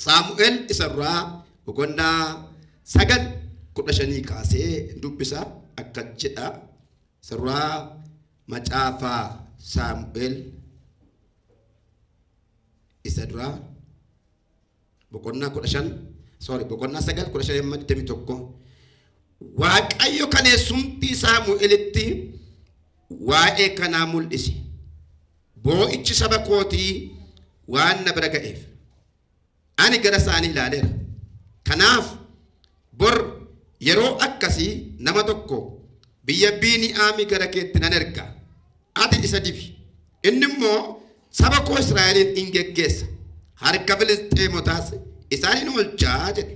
Saamu'eel isa duraa boqonnaa sagal kudha shanii kaasee dubbisa akka jedha. Isa duraa macaafa Saamu'eel isa duraa boqonnaa kudha shan sorry boqonnaa sagal kudha shan amma digdamii tokko waaqayyo kaleessumtii saamu'elitti waa'ee kanaa mul'ise boo'ichi saba kootii waan na bira ga'eef Ani gara isaanii ilaaleera. Kanaaf bor yeroo akkasii nama tokko biyya Biini'aamii gara keetti nan erga, ati isa dibi, inni immoo saba koo Israa'eliin in geggeessa, harka Filisxeemotaas isaan in oolcha jedhe.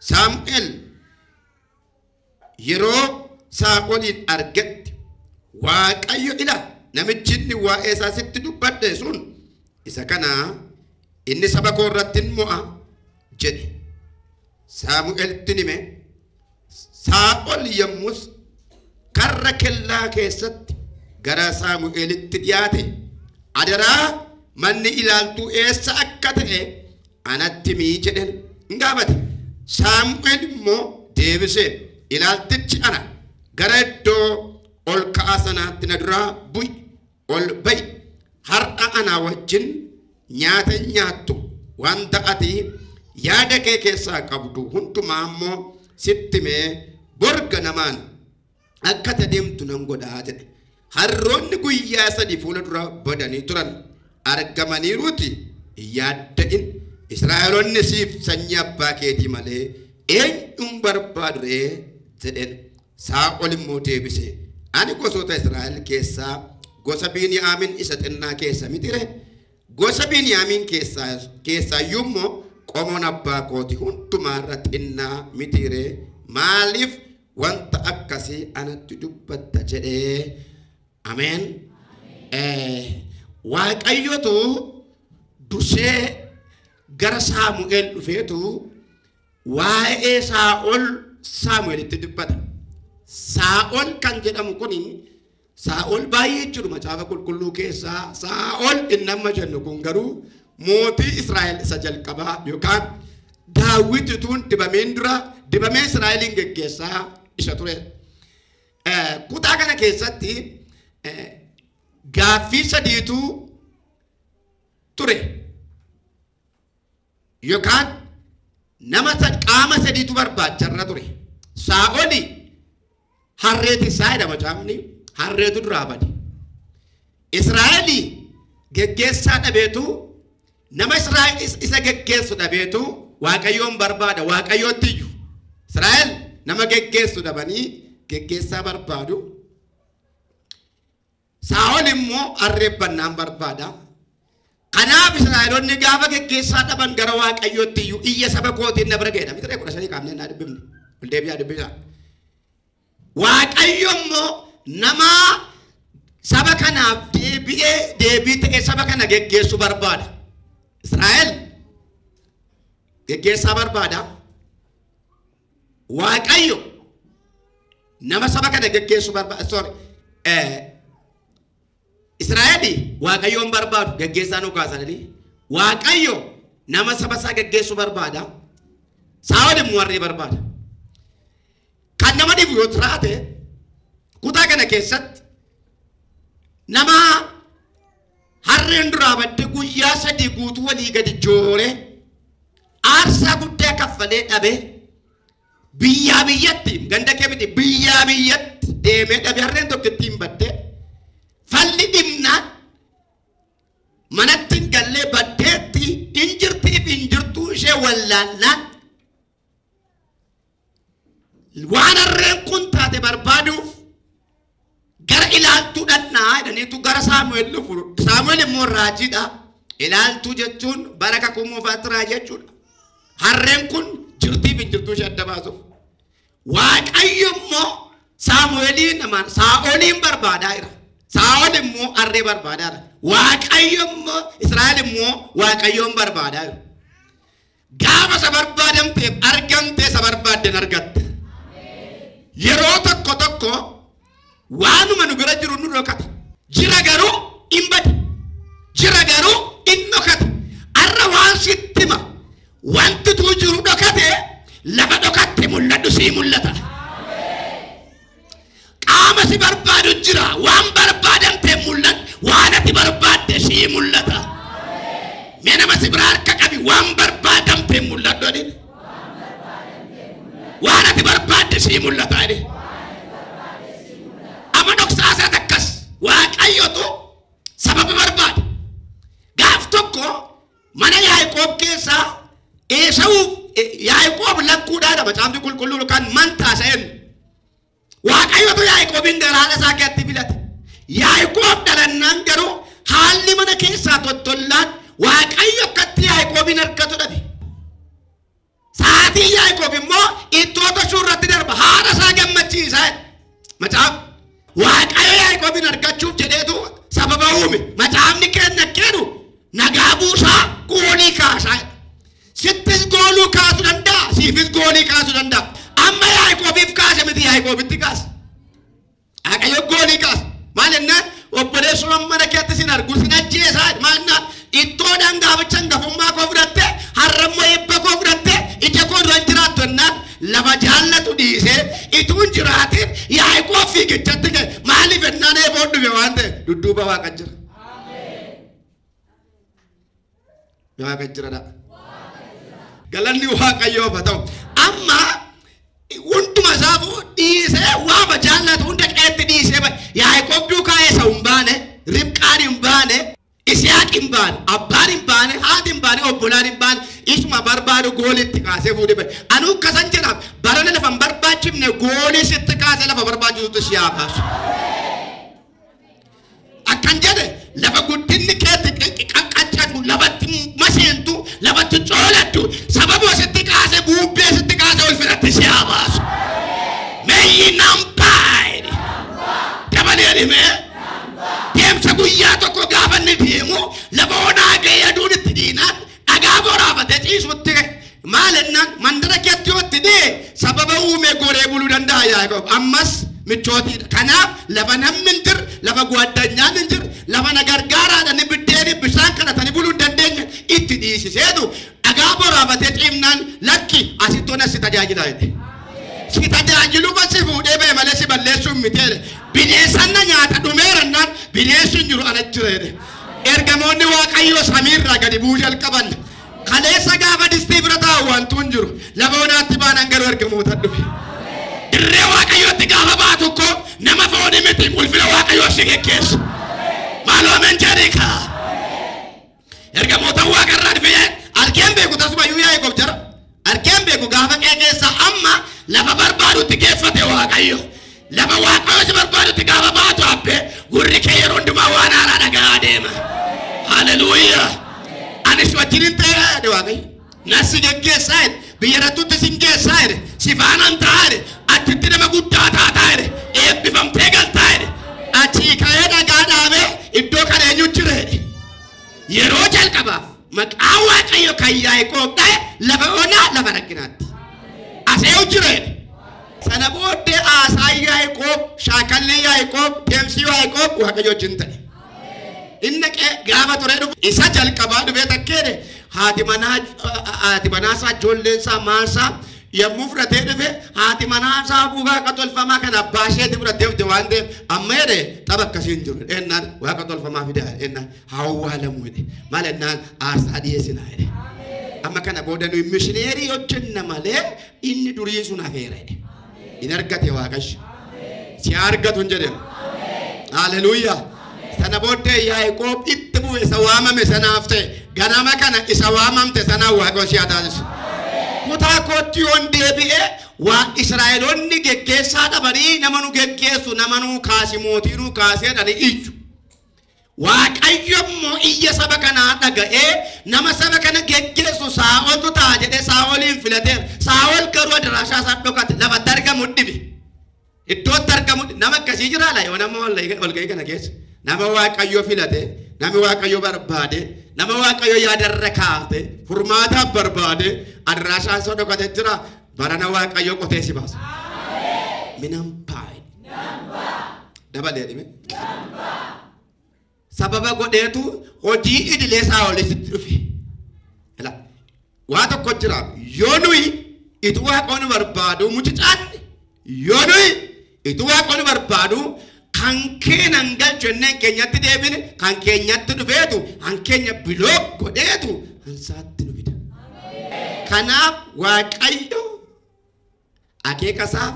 Saamu'el. Yeroo Saa'oliin argetti Waaqayyo, Ila, namichi inni waa'ee isaa sitti dubbadhe sun isa kana, inni saba koo irratti in mo'a jedhe. Saamu'eltti in hime. Saa'ol yommus karra kellaa keessatti gara Saamu'elitti dhiyaate. Adaraa manni ilaaltuu eessa akka ta'e Anatti himi jedheen in gaafate. Saamu'el immoo deebisee, Ilaaltichi ana, gara iddoo ol ka'aa sanaatti na duraa bu'i, ol ba'i, har'a anaa wajjin nyaata hin nyaattu, wanta ati yaada kee keessaa qabdu hundumaa immoo sitti himee bor ganamaan akka ati adeemtu nan godha jedhe. Harroonni guyyaa sadii fuula dura badanii turan argamaniiruuti hin yaadda'in. Israa'eloonni siif sanyii abbaa keetii malee eenyuun barbaadu ree jedheen. Saa'ol immoo deebise ani gosoota Israa'el keessaa gosa Biiniyaamiin isa xinnaa keessa miti ree? Gosa Biiniyaamiin keessaa keessaayyuu immoo qomoon abbaa kooti hundumaarra xinnaa miti ree? Maaliif wanta akkasii anatti dubbatta jedhee ameen Eh, waaqayyotu dursee gara saamu'eel dhufeetu waa'ee saa'ol saamu'eelitti dubbata saa'ol kan jedhamu kun Saa'ol baay'ee jechuudha macaafa qulqulluu keessaa Saa'ol inni amma jennu kun garuu mootii Israa'el isa jalqabaa yookaan daawwiti tuun dibameen dura dibamee Israa'eliin geggeessaa isa ture. Kutaa kana keessatti gaaffii sadiitu ture. Yokaan nama sa- qaama sadiitu barbaacha irra ture. Saa'oli harree tisaa jedha macaafni harreetu duraa bade. Israa'eli geggeessaa dhabeetu nama Israa'el is- isa geggeessu dhabeetu Waaqayyoon barbaada Waaqayyootti iyyuu. Israa'el nama geggeessu dhabanii geggeessaa barbaadu. Saa'ol immoo arreeffannaan barbaada. Kanaaf Israa'eloonni gaafa geggeessaa dhaban gara Waaqayyootti iyyuu iyya saba kootiin na bira ga'edha. Mixiree kudha shanii kaafnee naa dubbifne. Ol deebi'aa dubbisaa. Waaqayyo immoo nama saba kanaaf deebi'ee deebii ta'ee saba kana geggeessu barbaada. Israa'el geggeessaa barbaada. Waaqayyo nama saba kana geggeessu barbaada. Sorry. Eh, Israa'eli Waaqayyoon barbaadu geggeessaa nu kaasanii Waaqayyo nama saba isaa geggeessu barbaada. Saa'ol immoo warree barbaada. Kan nama dhibu yoo jiraate kutaa kana keessatti nama harreen duraa badde guyyaa sadii guutuu walii gadi jooree Aarsaa guddaa kaffalee dhabee biyyaa biyyatti ganda kee miti biyyaa biyyatti deemee dhabe harreen tokko ittiin badde falli dhimnaan manatti hin gallee baddeetti hin jirtiif hin jirtuu ishee wallaannaan waan harreen kun taate barbaaduuf gara ilaaltuu dhannaa jedhaniitu gara saamu'eel dhufu saamu'eel immoo raajiidha ilaaltuu jechuun bara kakuu moofaatti raajii jechuudha harreen kun jirtii fi jirtuu ishee adda baasuuf waaqayyo immoo saamu'eeliin namaan saa'oliin barbaadaa jira saa'ol immoo harree barbaadaa jira waaqayyo immoo israa'el immoo waaqayyoon barbaadaa jira Gaafa isa barbaadamteef argamtee isa barbaadden argatte. Yeroo tokko tokko waanuma nu bira jiru nu dhokata. Jira garuu hin bade. Jira garuu hin dhokate. Arra waan sitti hima. Wanti tuu jiru dhokate lafa dhokatte mul'adhu sii mul'ata. Qaama si barbaadu jira. Waan barbaadamte mul'atu. Waan ati barbaadde sii mul'ata. Mee nama si biraa harka qabi waan barbaadamte mul'atu jedhin. Waan ati barbaadde sii mul'ata jedhin. Amma dhoksaa isaa takkas waaqayyotu sababa barbaade. Gaaf tokko Mana Yaaqoob keessaa Eesawuuf Yaaqoob lakkuudhaadha macaafni qulqulluun kan mantaasa eenyu. Waaqayyotu Yaaqoobiin gara haadha isaa keessatti filate. Yaaqoob dhalannaan garuu haalli mana keessaa tottollaan Waaqayyo akkatti Yaaqoobiin argatu dhabe. Sa'aatiin Yaaqoob immoo ittoo tolchuu irratti darba. Haadha isaa gammachiisa. Macaaf Waaqayyo Yaaqoobiin argachuuf jedheetu sababa uume. Macaafni keenya jedhu nagaa buusaa goolii kaasaa. Sittis gooluu kaasuu danda'a, siifis goolii kaasuu danda'a. Amma Yaaqoobiif kaase miti Yaaqoobitti kaase. Waaqayyo goolii kaasa. Maal jennaan obboleessumaan mana keetti sin argu sin ajjeesaa maannaa ittoodhaan gaaficha hangafummaa koo fudhatte har'ammoo eebba koo fudhatte ija koo dura hin jiraattu jennaan lafa jaallatu dhiisee ituu hin jiraatin yaa'ikoo fiigichatti ka'e maaliif jennaan eeboo dhufe waan ta'e dudduuba waaqa jira. Waaqa jiradha. Galanni Waaqayyoof haa ta'u. Amma hunduma isaafuu dhiisee waama jaallatu hunda qeetti dhiisee ba- Yaaqoob duukaa isa hin baane, Ribqaan hin baane, Isiyaaq hin baane, abbaan hin baane, haati hin baane, obbolaan hin baane, isuma barbaadu goolitti kaasee fuudhee bade. Anuu kasan jedhaaf barana lafa hin barbaachifne goolii sitti kaasee lafa barbaachisutti si haa kaasu. Akkan jedhe lafa guddinni keetti qaqqaccatu lafatti maseentu lafatti coolattu sababuma sitti kaase buubbee sitti kaase ulfinatti si haa baasu. Meeyyi nambaayini dabalee dhimee deemsa guyyaa tokko gaafa inni deemu lafa onaa ga'ee aduun itti diinaan Dhagaa boraafatee ciisutti ka'e. Maal ennaan mandara keetti yoo itti dhi'e sababa uumee goree buluu danda'a Yaaqoob. Ammas michootiidha. Kanaaf lafa namni hin jirre, lafa guaddanyaan hin jirre, lafa na gargaaraadhani biddeeni bishaan kadhatanii buluu hin dandeenye itti dhiisiseetu dhagaa boraafatee ciifnaan lakki asitti ona si tajaajila jedhe. Si tajaajiluma si fuudhee ba'e malee si balleessuun miti jedhe. Bineensaan na nyaata dhumeera ennaan bineessi hin jiru ana jira jedhe. Ergamoonni Waaqayyoo samiirraa gadi bu'uu jalqaban. Kaleessa gaafa distii bira taa'u wantu hin jiru. Lafa onaatti baanan garuu ergamoota dhufe. Dirree Waaqayyootti gaafa ba'a tokko nama foonii miti ulfina Waaqayyoo si geggeessu. Maaloo amen jedhii kaa. Ergamoota Waaqarraa dhufe argeen beeku tasuma iyyuu yaa'e gob jara. Argeen beeku gaafa qe'ee keessaa amma lafa barbaadutti geeffate waaqayyo. Lafa waaqayyo si barbaadutti gaafa baatu abbee gurri kee yeroo hundumaa waan haaraa dhaga'aa deema. Haleluuyaa. Anis wajjin hin ta'e jedhe waaqayyo. Nan si geggeessaa jedhe. Biyya irrattutti sin geessaa jedhe. Si faanan ta'a jedhe. Achitti nama guddaa taataa jedhe. Eebbifamtee galtaa jedhe. Achii ka'ee dhagaa dhaabee iddoo kana eenyu jira jedhe. Yeroo jalqabaaf Maqaa Waaqayyo kan Yaaqoob ta'e lafa onaa lafa rakkinaatti. Aseewu jireedha. Sana booddee haasaan Yaaqoob, shaakalli Yaaqoob, deemsi Yaaqoob Waaqayyo wajjin ta'e. Inni dhaqee gaafa turee dhufu isa jalqabaa dhufee takkeedhe haati manaa haati manaa isaa ijoolleen isaa maal isaa yommuu fudhatee dhufe haati manaa isaa buufaa akka tolfamaa kan abbaa isheetti fudhatee dhufte waan ta'eef amma jedhe tapha akkasii hin jiru ennaan waaqa tolfamaa fidaa ennaan haa owwaalamu jedhe maal ennaan aarsaa dhiyeessinaa jedhe amma kana booda nuyi mishineerii hojjenna malee inni durii sun hafeera jedhe hin argate waaqayyo si haa argatu hin jedhemu haleluuyaa sana booddee yaaqoob itti bu'e isa waamame sanaaf ta'e ganama kana isa waamamte sanaan waaqayyo si haa taasisu kutaa kootti yoon deebi'ee waa israa'eloonni geggeessaa dhabanii nama nu geggeessu nama nuu kaasi mootii nuu kaasee dhani iyyu Waaqayyo immoo iyya saba kanaa dhaga'ee, Nama saba kana geggeessu Saa'oltu ta'a jedhee Saa'oliin filateera. Saa'ol garuu adaraashaa isaa dhokate, lafatti argamu dhibe. Iddootti argamu dhibe. Nama akkasii jiraa laayoo nama walga'ii kana keessa. Nama Waaqayyo filate, nama Waaqayyo barbaade, nama Waaqayyo yaadarra kaa'ate, furmaataaf barbaade, adaraashaa isaa dhokate jira. Barana Waaqayyo qotee si baasa. Minan baay. Dabalee dhime. Sababa godheetu hojii idilee isaa olii sitti dhufe. Ila waa tokko jira yoo nuyi itti waaqoon barbaadu mucicaan Yoo nuyi ituu waaqonni barbaadu kan keenya hin galchu jennee kan keenyatti deebine kan keenyatti dhufeetu kan keenya bilook godheetu hansaatti nu fida. Kanaaf waaqayyo akeeka isaaf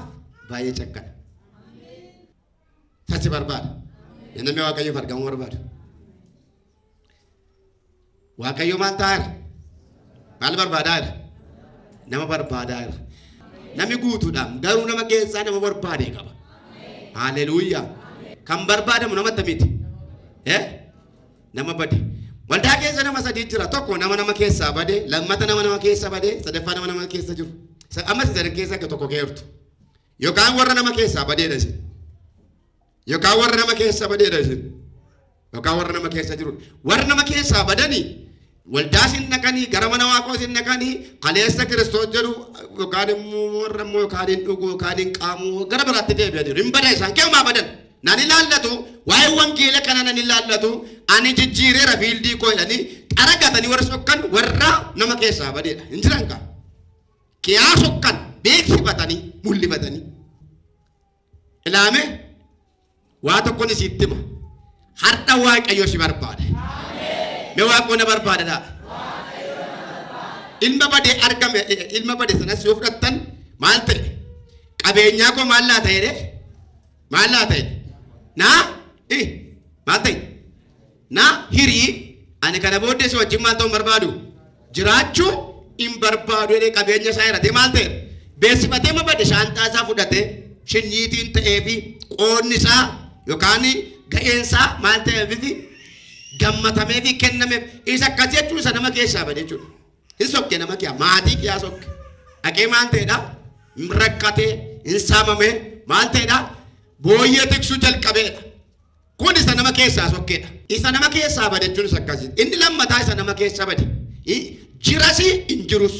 baay'ee cakkana. Tasi barbaada. Namni waaqayyoof argamuu barbaada. Waaqayyo maal ta'aa jira? Maal barbaadaa jira? Nama barbaadaa jira. Nami guutuudhaan garuu nama keessaa nama barbaade qaba. Haaleluyyaa. Kan barbaadamu nama akkamiiti? Eh? Nama bade. Waldaa keessa nama sadii jira. Tokko nama nama keessaa bade, lammata nama nama keessa bade, sadaffaa nama nama keessa jiru. Sa- Ammas sadan keessa akka tokko keertu. Yookaan warra nama keessaa badeedha isin. Yookaan warra nama keessa badeedha isin. Yookaan warra nama keessa jiru. Warra nama keessaa badanii waldaa isin naqanii gara mana waaqoo isin naqanii kaleessa kiristoos jedhu yookaan immoo warra immoo yookaan hin dhugu yookaan hin qaamu gara biraatti deebi'aniiru. Hin badan isaan keemaa badan. Nan ilaallatu waa'ee wangeela kana nan ilaallatu ani jijjiireera fiildii koo jedhanii qara gatanii warra sokkan warra nama keessaa badeedha. Hin jiran kaa. Kiyaa sokkan beeksifatanii mul'ifatanii. ilaame waa tokkon isiitti hima har'a waaqayyo si barbaada me waaqoo na barbaada dhaa ilma bade argame ilma bade sanas yoo fudhattan maal ta'e qabeenyaa koo maal laa ta'e maal laa ta'e naa maal ta'e Na hiri, ani kana booddee si wajjin maal ta'uu hin barbaadu? Jiraachuu hin barbaadu jedhee qabeenya isaa hiratee maal ta'e? Beeksifatee ma bade shaanxaa isaa fudhatee shinyiitiin ta'ee fi qoodni isaa yookaan ga'een isaa maal ta'eefifi gammatamee fi kennameef isa akkas jechuun isa nama keessaa bade jechuudha. Hin sokke nama kiyaa maatii kiyaa sokke. Dhaqee maal ta'edha? Hin rakkatee, hin saamamee maal ta'edha? Booyyee tiksuu jalqabeedha. Kun isa nama keessaa sokke dha. Isa nama keessaa bade jechuunis akkasi. Inni lammataa isa nama keessa bade. I- Jirasi hin jirus.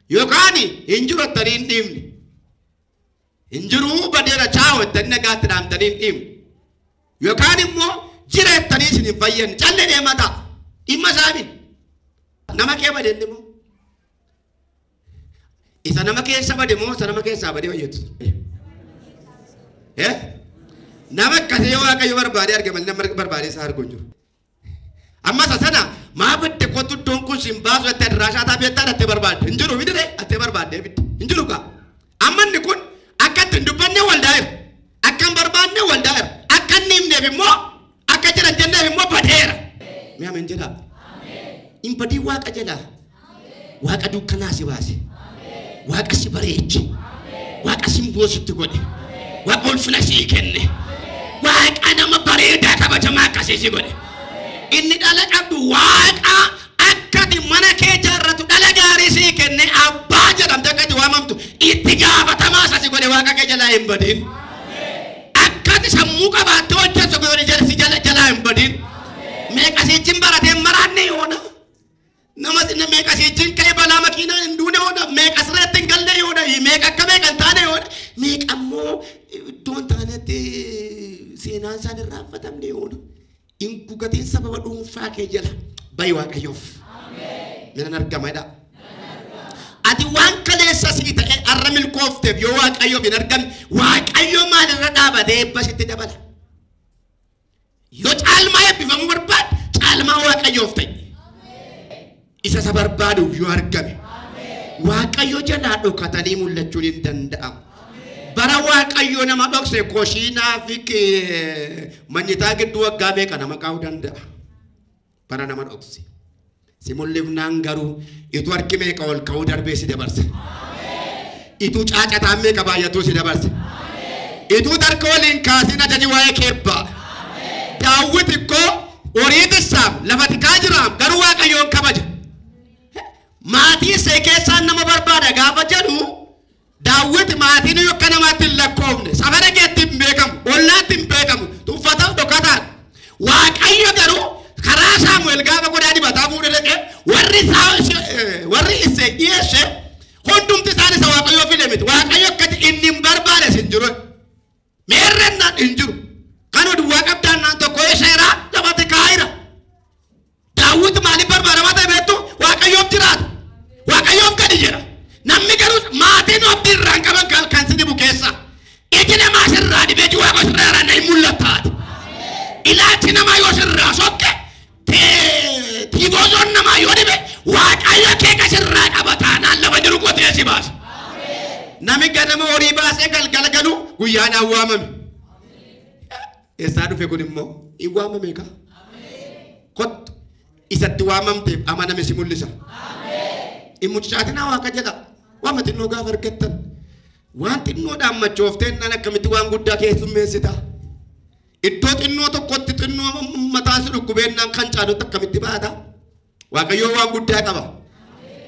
Yookaan hin jiru jettanii hin dhiifne. Hin jiruu badeera chaa'u jettanii nagaatti dhaamtanii hin dhiifne. Yookaan immoo jira jettanii isin hin fayyanne. Callee deemaa ta'a. Dhimma isaa miti. Nama kee bade inni immoo. Isa nama keessa bade moo isa nama keessaa bade fayyadu? Eh? Nama akkasii yoo waaqayyo barbaade arge malee nama barbaade isaa arguu hin jiru. Amma isa sana maa badde kottu iddoon kun siin baasu jettee adiraashaa isaa beektaa dhattee barbaadde hin jiru midire dhattee barbaadde hin jiru kaa. Amma inni kun akka itti hin dubbanne waldaa'eera. Akka hin barbaanne waldaa'eera. Akka inni himneef immoo akka jiran jenneef immoo badeera. Mee ameen jedhaa. Hin badin waaqa jedhaa. Waaqa dukkanaa si baase. Waaqa si bareeche. Waaqa simboo sitti godhe. Waaqa ulfina sii kenne. Waaqa nama bareedaa kabajamaa akkasii si godhe. Inni dhala qabdu waaqa Akka ati mana kee ijaarratu dhala gaarii sii kenne abbaa jedhamte akka ati waamamtu itti gaafatamaa isa si godhe waaqa kee jalaa hin badin. Akka ati sammuu qabaattee hojjettu godhe jala- si jala- jalaa hin badin. Meeqa siichin baratee hin maraanne yoona. Nama sinna meeqa siichin ka'ee balaa makiinaa hin duune yoona. Meeqa sirreetti hin galle yoona. Meeqa akka meeqa hin taane yoona. Meeqa immoo iddoo hin taanetti seenaan isaan irraa affatamne yoona. Hin gugatiin sababa dhuunfaa kee jala bayi waaqayyoof. Nan argama jedha. Ati waan kaleessa sii ta'e har'a milkoofteef yoo waaqayyoof hin argamne waaqayyo maalirra dhaabatee eebba sitti dabala. Yoo caalmaa eebbifamuu barbaadde caalmaa waaqayyoof ta'e. Isa isa barbaaduuf yoo argame. Waaqayyo jalaa dhokatanii mul'achuun hin danda'amu. Bara Waaqayyo nama dhokse koshiinaa fi ki- manyitaa gidduu waggaa meeqa nama kaa'uu danda'a? Bara nama dhokse. Si mul'ifnaan garuu ituu harki meeqa ol ka'uu darbee si dabarsa. Ituu caacataan meeqa baay'atuu si dabarse. Ituu tarka ol hin kaasiin ajaji waa'ee kee ba'a. Daawwit ikkoo horii tissaam lafa tikaa jiraam garuu waaqayyoon kabaja. Maatii see keessaan nama barbaada gaafa jedhu daawwit maatiin yoo akka namaatti hin lakkoofne safara keetti hin beekamu ollaatti hin beekamu tuffataa dhokataan. Waaqayyo garuu karaa Saamu'eel gaafa qodaa dibataa fuudhee dhaqee warri isaa warri isee dhiyeesse Hundumti isaanii isa Waaqayyoo fide miti. Waaqayyo akkati inni hin barbaade sin jiru. Meerrannaan hin jiru. Kan duwwaa qabdaan naan tokko isheeraa lafatti kaa'ira. Daawwiti maaliif barbaadamaa ta'e beektu Waaqayyoof jiraata. Waaqayyoof gadi jedha. Namni garuu maatiin abdii irraan qaban kan kan si dhibu keessa. Iji namaa sirraa dhibee jiwaa koo sirraa irraa na hin mul'attaati. Ilaalchi namaa yoo sirraa sokke Tee- Tiiboozoon namaa yoo dhibe waaqayyo kee kan sirraa qaba taanaan lafa jiru qotee si baasa. Nami ganama horii baasee galgala galu guyyaadhaan waamame. Eessaa dhufe kun immoo hin waamame kaa. Kottu isatti waamamteef amaname si mul'isa. Hin mucaatinaa waa akka jedha. Waan xinnoo gaafa argattan. Waan xinnoodhaan machoofteen nan akkamitti waan guddaa keessummeessita. Iddoo xinnoo tokkotti xinnoo mataan si dhukkubeennaan kan caalutti akkamitti baata? Waaqayyoo waan guddaa qaba.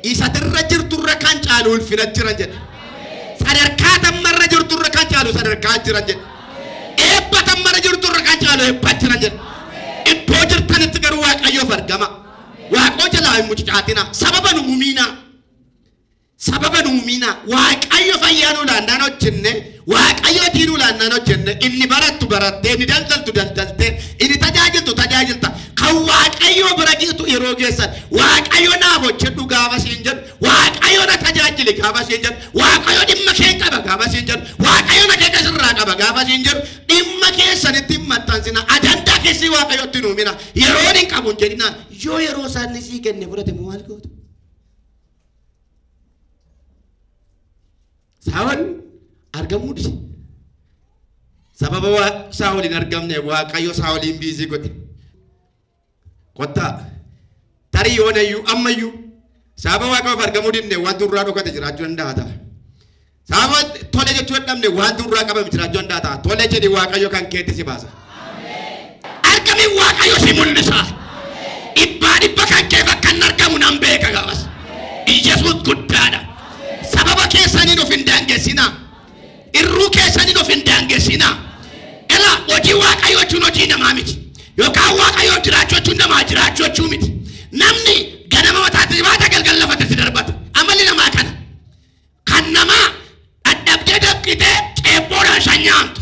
Isa irra jirturra kan caalu ulfina jira jedha. Sadarkaa tammarra jirturra kan caalu sadarkaa jira jedha. Eebba tammarra jirturra kan caalu eebba jira jedha. Iddoo jirtanitti garuu Waaqayyoof argama. Waaqoo jalaa hin mucucaatina. Sababa nu mumiinaa. Sababa nuu miina waaqayyo fayyaa nuu laannaan hojjenne waaqayyootii nuu laannaan hojjenne inni barattu barattee inni daldaltu daldaltee inni tajaajiltu tajaajilta kan waaqayyoo bira geetu yeroo geessan waaqayyo naaf hojjedhu gaafa siin jedhu waaqayyo na tajaajili gaafa siin jedhu waaqayyo dhimma kee qaba gaafa siin jedhu waaqayyo na kee sirraa qaba gaafa siin jedhu dhimma keessanitti hin maxxansina ajandaa keessii waaqayyotti nuu mina yeroon hin qabu hin jedhinaan yoo yeroo isaanii sii kenne fudhate moo maal gootu Saa'ol argamuu dide. Sababa waa Saa'ol hin argamne Waaqayyo Saa'oliin biizii godhe. Kottaa tarii yoonayyuu ammayyuu sababa Waaqayyoof argamuu didne waan durraa dhokate jiraachuu danda'a ta'a. Sababa tole jechuu dadhabne wanti nurraa qabame jiraachuu danda'a ta'a. Tole jedhi Waaqayyo kan keetti si baasa. Argamiin Waaqayyo si mul'isa. Dhibbaa dhibba kan keef akka hin argamu nan beeka gaafas. Iyyasuus guddaadha. Sababa keessaniin of hin daangessinaa. Irruu keessaniin of hin daangessinaa. Ela hojii Waaqayyo jechuun hojii namaa miti. Yookaan Waaqayyo jiraachuu jechuun namaa jiraachuu jechuu miti. Namni ganama mataatti baata galgal lafatti si darbata. Amalli namaa kana. Kan namaa dhadhabdee dabqitee ceebboodhaan shan nyaamtu.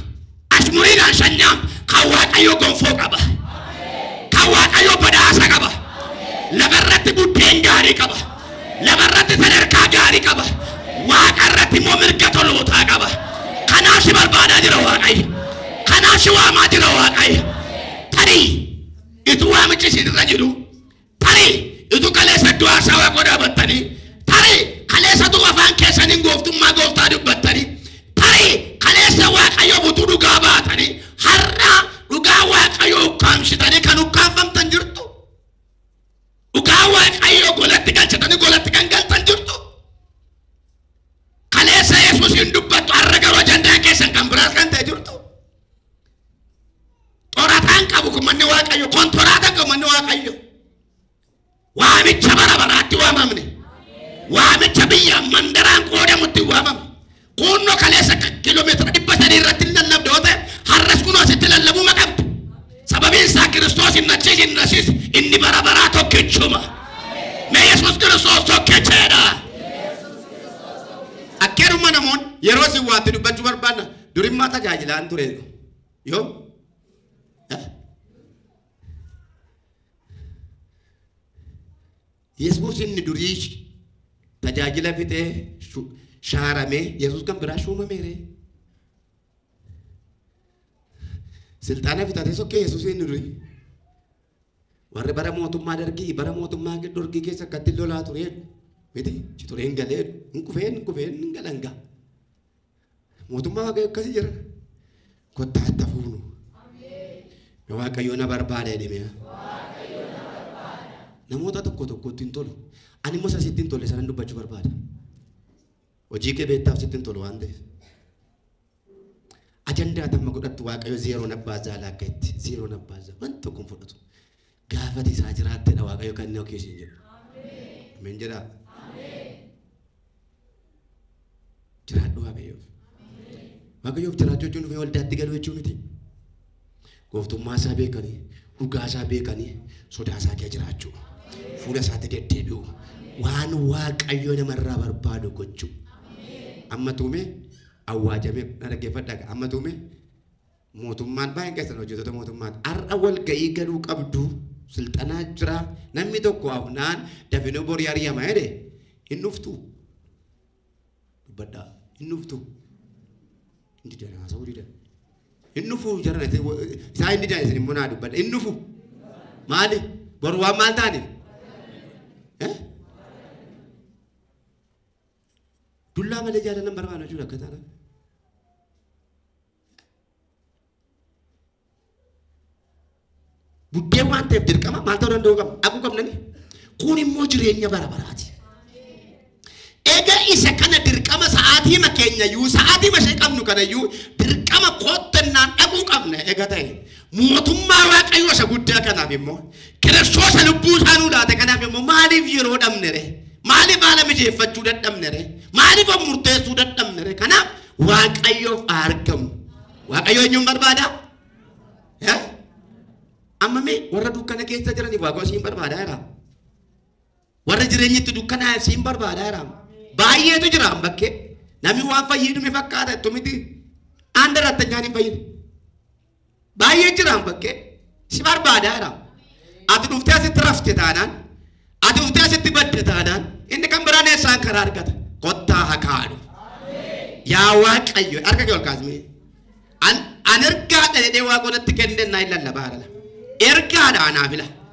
Ashmuriidhaan shan nyaamtu. Kan Waaqayyoo gonfoo qaba. Kan Waaqayyoo badhaasa qaba. Lafarratti buddeen gaarii qaba. Lafarratti sadarkaa gaarii qaba. Waaqarratti immoo mirga tolootaa qaba. Kanaaf si barbaadaa jira Waaqayyo. Kanaaf si waamaa jira Waaqayyo. Tarii ituu waamichi isin irra jiru Tarii utuu kaleessa du'aa isaa waaqoo dhaabattanii, tarii kaleessa utuu afaan keessaniin gooftummaa gooftaa dubbattanii, tarii kaleessa waaqayyoof utuu dhugaa baatanii, har'a dhugaa waaqayyoo ukkaamsitanii kan ukkaamfamtan jirtu. Dhugaa waaqayyoo golatti galchitanii golatti kan galtan jirtu. Kaleessa Yesuusiin dubbattu har'a garuu ajandaan keessan kan biraas kan ta'e jirtu. Xorataan qabu kun manni Waaqayyo, kontoraataan qabu manni Waaqayyo. Waamicha bara baraatti waamamne. Waamicha biyya mandaraan qoodamutti waamamne. Kuunnoo kaleessa akka kiiloomeetira dhibba sadii irratti hin lallabde yoo ta'e har'as kunoo asitti lallabuu ma qabdu. Sababiin isaa Kiristoos hin nachiis hin nasiis inni bara baraa tokkichuma. Mee Yesuus Kiristoos tokkicheedha. Akkeerumma namoonni yeroo isin waatti dubbachuu barbaadna Durimmaa tajaajilaan ture yoo Yesuus inni durii tajaajila fixee shu- shaaramee Yesuus kan biraa shuumameere. Silxaana fixatee sokkee Yesuus inni durii. Warri bara mootummaa dargii bara mootummaa dorgii keessa akkatti lolaa tureen miti ci tureen galee hin kufeen hin kufeen hin galangaa. Mootummaa Waaqayyo akkasii jira. Kottaa itti hafuunu. Na Waaqayyo na barbaada jedhee namoota tokko tokkotti hin tolu. Ani immoo isa sitti hin tolle sanan dubbachuu barbaada. Hojii kee beektaaf sitti hin tolu waan ta'eef. Ajandaa tamma godhattu Waaqayyo zeeroo nabbaa zaala akka itti zeeroo nabbaa zaala wanti tokko hin fudhatu. gaafati isaa jiraattedha waaqayyo kan inni okeessin jedhu. Ameen jedhaa. Jiraadhu waaqayyoof. Waaqayyoof jiraachuu jechuun dhufee waldaatti galuu jechuu miti. Gooftummaa isaa beekanii, dhugaa isaa beekanii, sodaa isaa kee jiraachuu. Fuula isaatti deddeebi'u. Waan waaqayyo namarraa barbaadu gochuu. Amma tuumee awwaajamee na dhaggeeffadhaa amma tuumee Mootummaan baay'een keessan hojjetoota mootummaati. Har'a walga'ii galuu qabdu silxanaa jira. Namni tokko hafnaan dafinoo borii ari'ama jedhe hin dhuftu. Dubbadhaa hin dhuftu. Hin didan haasa'uu didan. Hin dhufu jaran isaa hin didan isin immoo naa dubbadha. Hin dhufu. Maali? Boru waan maal taaniif? Dullaa malee jaalala hin barbaanne jechuudha akka taanaan. Buddeen waan ta'eef dirqama maal ta'uu danda'uu qabna? Dhaquu qabnani. Kun immoo jireenya bara baraati. Egaa isa kana dirqama sa'aatiima keenya iyyuu sa'aatiima ishee qabnu kana iyyuu dirqama koottannaan dhaquu qabna egaa ta'e. Mootummaa Waaqayyoo isa guddaa kanaaf immoo kiristoosa lubbuu isaa nuu laate kanaaf immoo maaliif yeroo dhabne ree? Maaliif haala mijeeffachuu dadhabne ree? Maaliif of murteessuu dadhabne ree? Kanaaf Waaqayyoof haa argamu. Waaqayyo eenyuun barbaada? Eh? Amma mee warra dukkana keessa jiraniif waaqayyo siin barbaada jira. Warra jireenyi itti dukkanaa siin barbaada jira. Baay'eetu jira amma bakkee. Namni waan fayyadu ni fakkaata itti miti. Aan darattanyaan hin fayyadu. Baay'ee jiraan bakkee si barbaadaa jira. Ati dhuftee asitti rafte taanaan, ati dhuftee asitti badde taanaan, inni kan biraan eessaan karaa argata. Kottaa haa kaanu. Yaa Waaqayyo, harka kee ol kaasnee. An an ergaadha jedhee waaqonatti kenneen naa hin lallabaa jira. Ergaadha anaaf ila.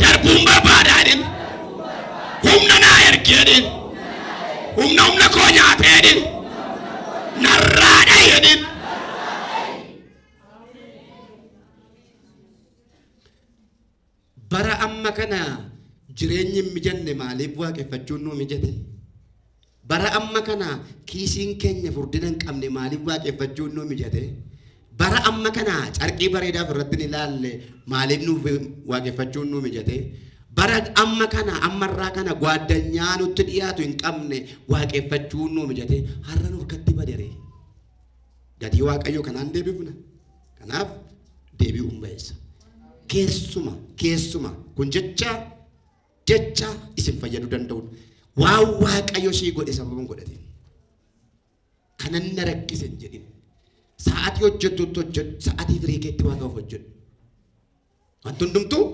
darbuun barbaada jedhin humna naa ergi jedhin humna humna koo nyaatee jedhin narraa dhahi jedhin bara amma kana jireenyi hin mijanne maaliif waaqeffachuun nuu mijate Bara amma kana kiisiin keenya furdina hin qabne maaliif waaqeffachuun nuu mijate? Bara amma kana carqii bareedaaf irratti hin ilaalle maaliif nuuf waaqeffachuun nuu mijate? Bara amma kana ammarraa kana gwaaddanyaa nutti dhiyaatu hin qabne waaqeffachuun nuu mijate har'a nuuf katti badere. Gatii Waaqayyoo kanaan deebifna. Kanaaf deebi'uun ba'eessa. Keessuma keessuma kun jecha Jecha isin fayyadu danda'uun waan waaqayyo sii godhe sababan godhatiin. Kanan na rakkise hin jedhin. Sa'atii hojjettutti hojjedhu, sa'atii firii keetti waaqaaf hojjedhu. Wanti hundumtuu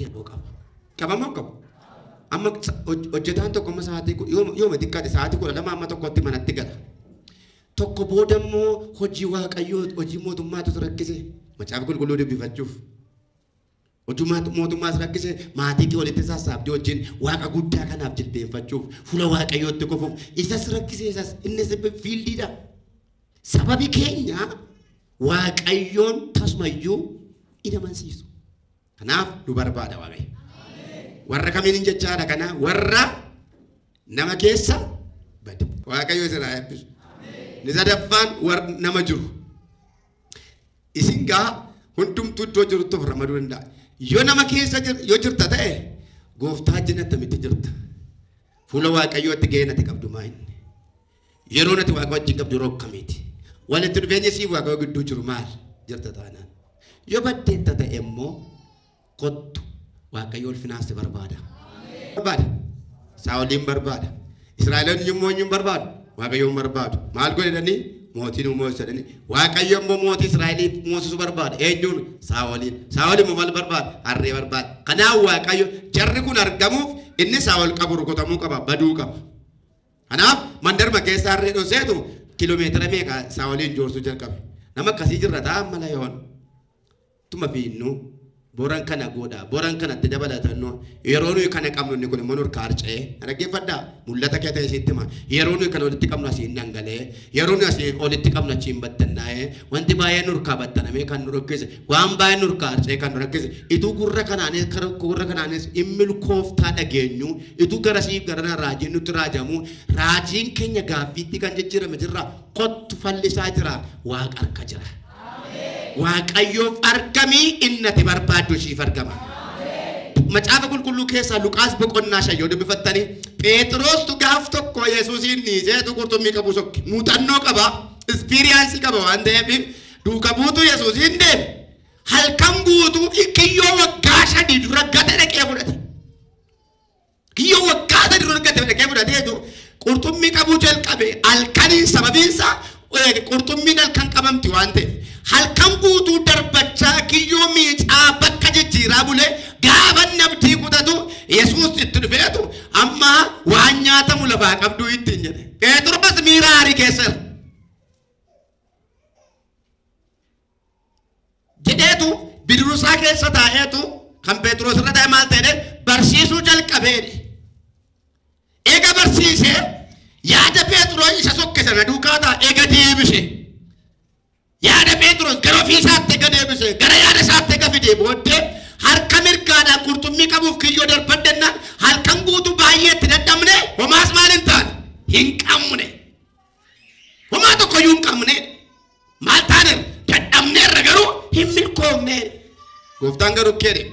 yeroo qaba. Qabama hin qabu. Amma sa- hoj- hojjetaan tokko amma sa'atii ku- yooma yooma xiqqaate sa'atii kudha lama amma tokkotti manatti gala. Tokko booda immoo hojii waaqayyoo hojii mootummaatu isa rakkise. Macaafa qulqulluu dubbifachuuf. Utumaa mootummaas rakkise maatii kee walitti sassaabdee wajjin waaqa guddaa kanaaf jilbeenfachuuf fuula waaqayyootti kufuuf isas rakkise isas innis fiildiidha. Sababi keenya waaqayyoon tasumayyuu in amansiisu. Kanaaf nu barbaada waaqayyo. Warra kamiin hin jechaadha kana warra nama keessa bade. Waaqayyo isin haa eebbisu. Ni sadaffaan warra nama jiru. Isin gaa hundumtuu iddoo jirtu of ramaduu danda'a. Yoo nama keessa yoo jirta ta'e gooftaa jina tamitti jirta. Fuula waaqayyootti ga'een ati qabdu maa inni? Yeroon ati waaqa wajjin qabdu yeroo akkamiiti? Walitti dhufeenya siif waaqayyoo gidduu jiru maal jirta taanaan? Yoo baddeetta ta'e immoo Kottu, Waaqayyo ulfinaan si barbaada. Barbaada. Saa'oliin barbaada. Israa'eloonni yommuu eenyuun barbaadu? Waaqayyoon barbaadu. Maal godhanii? Mootiin uumuu jedhanii. Waaqayyo immoo mootii Israa'eliif moosisu barbaada. Eenyuun? Saa'oliin. Saa'ol immoo maal barbaada? Harree barbaada. Kanaaf Waaqayyo jarri kun argamuuf inni Saa'ol qabu rukutamuu qaba, baduu qaba. Kanaaf mandarma keessa harree dhoseetu kiiloomeetira meeqa Saa'oliin joorsuu jalqabe. Nama akkasii jirra ta'a mala yoon. Tuma biinnu boran kana goodha. Boran kana itti dabalatannu yeroo nuyi kana qabnu inni kun immoo nurka harca'ee. Na dhaggeeffadhaa? Mul'ata kee ta'e sitti hima. Yeroo nuyi kana olitti qabnu asiin dhangala'ee. Yeroo nuyi asii olitti qabnu achiin battannaa'ee. Wanti baay'een nurkaa battanamee kan nu rakkise. Waan baay'een nurkaa harca'ee kan nu rakkise. Ituu gurra kanaanis kara gurra kanaanis in milkooftaa dhageenyu. Ituu garasii garana raajiin nutti raajamu. Raajiin keenya gaaffiitti kan jijjiirame jirra. Kottu fallisaa jira. Waaqa harka jira. Waaqayyoof argamii inni ati barbaaddu ishiif argama. Macaafa qulqulluu keessaa Luqaas boqonnaa shan yoo dubbifattanii Pheexiroostu gaaf tokko Yesuusiin dhiiseetu qurxummii qabuu sokke. Muuxannoo qaba, ispiriyaansii qaba waan ta'eef duuka buutuu Yesuusiin deeme. Halkan guutuu kiyyoo waggaa shanii dura gate dhaqee fudhate. Kiyyoo waggaa sadi dura argate dhaqee fudhateetu qurxummii qabuu jalqabe halkaniin sababiin isaa eh, qurxummiin halkan qabamti waan ta'e halkan guutuu darbachaa kiyyoo miicaa bakka jijjiiraa bulee gaafa nabdii kutatu yesuus itti dhufeetu amma waan nyaatamu lafaa qabduu ittiin jedhe. Pheexroos miira aarii keessa jira. jedheetu bidirusaa keessa taa'eetu kan Pheexroos irra taa'e maal ta'e barsiisuu jalqabeedhe. Eega barsiise yaada Pheexroos isa sokke sana duukaa ta'a eega deebise. Yaada Pheexroos gara ofii isaatti eega deebise gara yaada isaatti eega fidee booddee harka mirgaadhaan qurxummii qabuuf kiyyoo darbadhennaan halkan guutuu baay'ee itti dadhabne homaas maal hin taane hin qabne. Homaa tokko iyyuu hin qabne. Maal taaneef dadhabneerra garuu hin milkoofne. Gooftaan garuu akkana jedhe.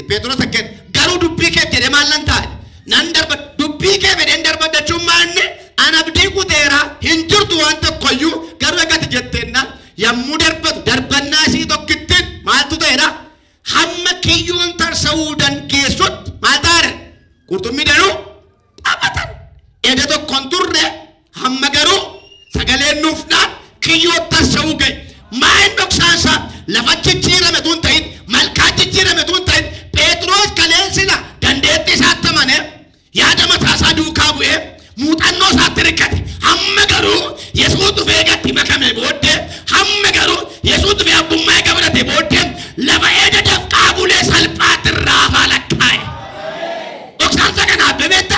Pheexiroos akkana jedhe. Garuu dubbii keef jedhee maal nan taa'e? Nan darba dubbii kee fedheen darbaddachuun maanne an abdii kuteera hin jirtu waan tokko iyyuu garuu egaa ati jetteenna yommuu darbatu darbannaa isii tokkittiin maaltu ta'edha? Hamma kiyyoon tarsa'uu dandeessutti maal taane? Qurxummii danuu taphatan eda tokko hin turre hamma garuu sagaleen nuuf dhaan kiyyoo tarsa'uu ga'e maayin dhoksaansaa lafa jijjiirame tun ta'in malkaa jijjiirame tun ta'in pheexroos kaleensila dandeettii isaatti amane yaada mataa isaa duukaa bu'ee muuxannoo isaatti rikkate hamma garuu yesuus dhufee gatti makame booddee hamma garuu yesuus dhufee abbummaa eega fudhate booddee lafa eda dafqaa bulee salphaatti irraa afaa lakkaa'e. Dhoksaan isa kana adda beekta.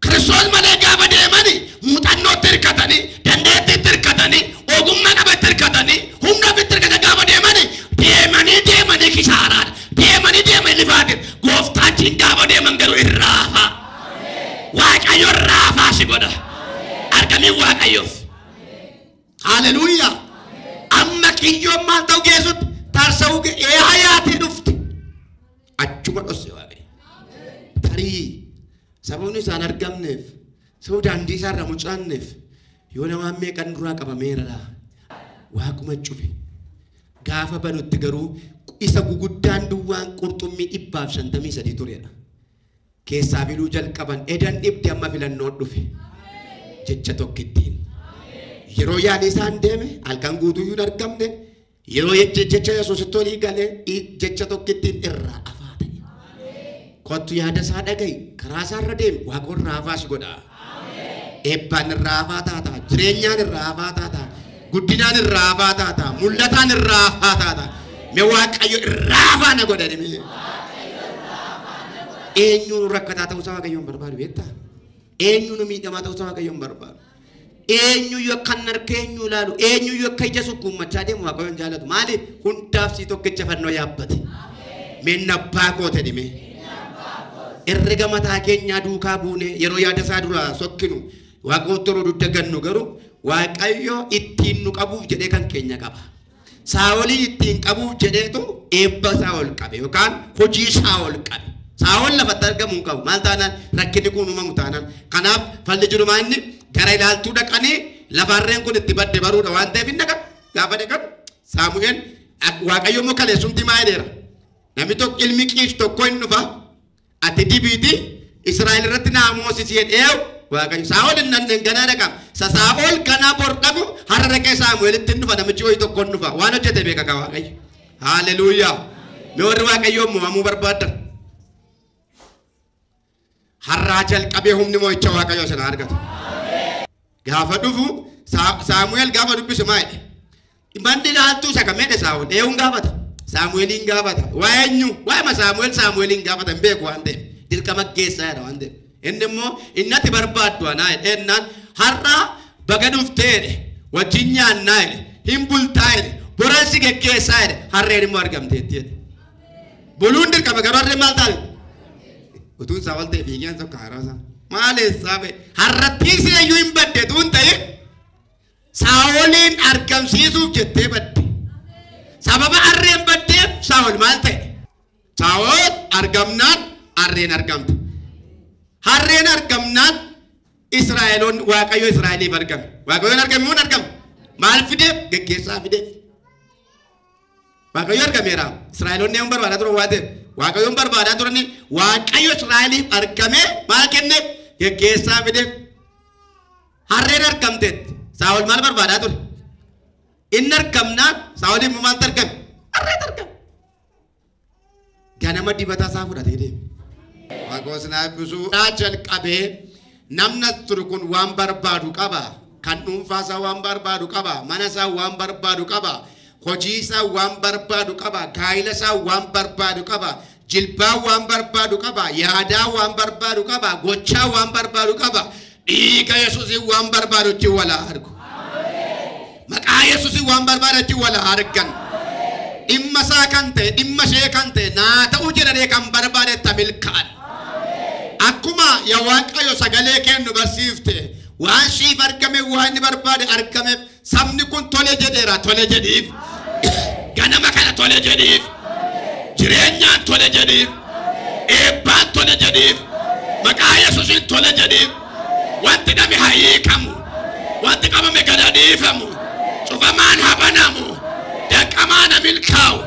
Kiristoos malee gaafa deemani muuxannootti hirkatanii, dandeettiitti hirkatanii, ogummaa qaba itti hirkatanii, humna ofitti hirkatanii gaafa deemani deemanii deemanii kisaaraadha. Deemanii deemanii lifaatiif gooftaachiin gaafa deeman garuu hin raafa. Waaqayyo raafaa si godha. Argamii Waaqayyoof. Haleluuyaa. Amma kiyyoon maal ta'u geessutti tarsa'uu ge- ee hayaatii dhufte. achuma dhosse waaqayyo. Tarii sababni isaan argamneef sababa daandii isaa irraa mucaanneef yoo namaan meeqan duraa qabameera laa waaquma cufe. Gaafa banutti garuu isa guguddaan duwwaan qurxummii dhibbaaf shantamii sadii turedha. Keessaa filuu jalqaban edan dhibdi amma filannoo dhufe jecha tokkittiin. Yeroo yaadni isaan deeme halkan guutuu hin argamne Yeroo jecha jecha Yesuusitti olii gale i- jecha tokkittiin irraa afaa ta'e. Kottu yaada isaa dhaga'i. Karaa isaa irra deemi. Waaqa irraa afaa si godha. Eebbaan irraa afaa taata. Jireenyaan irraa afaa taata. Guddinaan irraa afaa taata. Mul'ataan irraa afaa taata. Me Waaqayyo irraa afaa na godha jedhame. Eenyuun rakkataa ta'uusaa Waaqayyoon barbaadu beektaa? Eenyuun miidhamaa ta'uusaa Waaqayyoon barbaadu? Eenyuyyuu akka hin harkee eenyu ilaalu, eenyuyyuu akka ija sukkuummachaa deemu Waaqayyo hin jaalatu. Maaliif? Hundaaf sii tokkicha fannoo yaabbate. Meenna abbaa koote dhimee. Herrega mataa keenyaa duukaa buunee yeroo yaada isaa duraa sokkinu waaqootti yeroo dudda gannu garuu Waaqayyo ittiin nu qabuuf jedhee kan keenya qaba. Saa'olii ittiin qabuuf jedheetu eebba isaa ol qabe yookaan hojii isaa ol qabe. Saa'ol lafatti argamu hin qabu. Maal taanaan rakkinni kun uumamu taanaan. Kanaaf falli jiru maa inni gara ilaaltuu dhaqanii lafa harreen kun itti badde baruudha waan ta'eef hin dhaqan. Gaafa dhaqan Saamu'eel Waaqayyo immoo kaleessumti maa jedheera. Namni tokko ilmi qiis tokko hin dhufa. Ati dibiiti Israa'el irratti naa moosisi jedheew Waaqayyo. Saa'ol hin dhandhen ganaa dhaqaam. Sa Saa'ol ganaa bor dhaqu har'a dhaqee Saamu'eelitti hin dhufa namichi ho'i tokko hin dhufa. Waan hojjete beeka ka Waaqayyo. Haaleluuyaa. Mee warri Waaqayyoon mo'amuu barbaaddan. Har'aa jalqabee humni mo'icha Waaqayyo isin haa argatu. Gaafa dhufu Saamu'eel gaafa dubbisu maa jedhe? Manni laaltuu isa kam jedhe Saa'ol? Eewuun gaafata. Saamu'eeliin gaafata. Waa eenyu? Waa'ima Saamu'eel Saamu'eeliin gaafata hin beeku waan ta'eef. Dirqama geessaa jedha waan ta'eef. Inni immoo innati barbaaddu anaa jedhe ennaan har'a baga dhuftee jedhe wajjin nyaannaa jedhe hin bultaa jedhe boransi geggeessaa jedhe harreen immoo argamteetti jedhe. Buluun dirqama garuu harreen maal taate? Utuun isaa wal ta'e fiigeen tokko haaraa isaa. Maal eessaa ba'e? Harrattiin si eeyyuu hin badde tuun ta'e saa'oliin argamsiisuuf jettee badde. Sababa harreen baddeef saa'ol maal ta'e? Saa'ol argamnaan harreen argamte. Harreen argamnaan Israa'eloon Waaqayyo Israa'eliif argame. Waaqayyoon argame moo hin argamne? Maal fideef? Geggeessaa fideef. Waaqayyo argameera. Israa'eloonni yoon barbaadaa turan waan ta'eef Waaqayyoon barbaadaa turani Waaqayyo Israa'eliif argamee maal kenne geggeessaa fideef. Harreen argamteetti. Saa'ol maal barbaadaa ture? Inni argamnaan Saa'oliin maal argame? Harreen argame. Ganama dibata isaa fudhatee deeme. Waaqoo sinaa ebbisuu. Irraa jalqabee namni as turu kun waan barbaadu qaba. Kan dhuunfaa isaa waan barbaadu qaba. Mana isaa waan barbaadu qaba. Hojii isaa waan barbaadu qaba. Gaa'ila isaa waan barbaadu qaba. Jilbaa waan barbaadu qaba. Yaadaa waan barbaadu qaba. Gochaa waan barbaadu qaba. Dhiiga Yesuusiin waan barbaadu ittiin wal haa argu. Maqaa Yesuusiin waan barbaadu ittiin wal haa argan. Dhimma isaa kan ta'e, dhimma ishee kan ta'e, naa ta'uu jedhanii kan barbaade itti milkaa'an. Akkuma yaa Waaqayyo sagalee kennu barsiifte waan siif argame waan inni barbaade argameef Sabni kun tole jedheera tole jedhiif. Ganama kana tole jedhiif. Jireenyaan tole jedhiif. Eebbaan tole jedhiif. Maqaa Yesuusiin tole jedhiif. Wanti dhame haa hiikamu. Wanti qabame gad haa dhiifamu. Cufamaan haa banamu. Danqamaan haa milkaa'u.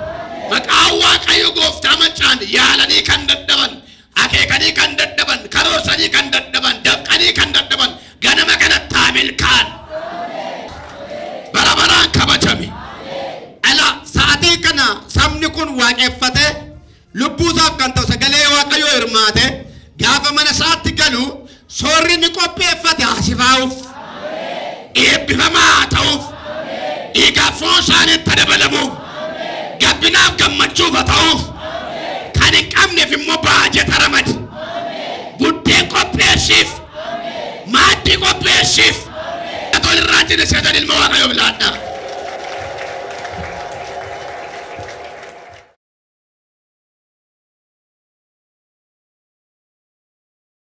Maqaa Waaqayyo gooftaa maccaan yaalanii kan dadhaban Akeekanii kan dadhaban, karoorsanii kan dadhaban, dafqanii kan dadhaban ganama kanatti haa milkaa'an. Bara baraan kabajami. Ala sa'atii kana sabni kun waaqeffatee lubbuu isaaf kan ta'u sagalee waaqayyoo hirmaatee gaafa mana isaatti galu Soorri inni qopheeffate haa sifaa'uuf, eebbifamaa haa ta'uuf, dhiigaaf foon isaaniitti ha dabalamuuf, gabbinaaf gammachuuf ha ta'uuf, kan hin qabneef immoo baajeta ramadi, buddeen qopheessiif, maaddii qopheessiif. Atoo irraa jine seetan ilma Waaqayyoof laadhaa.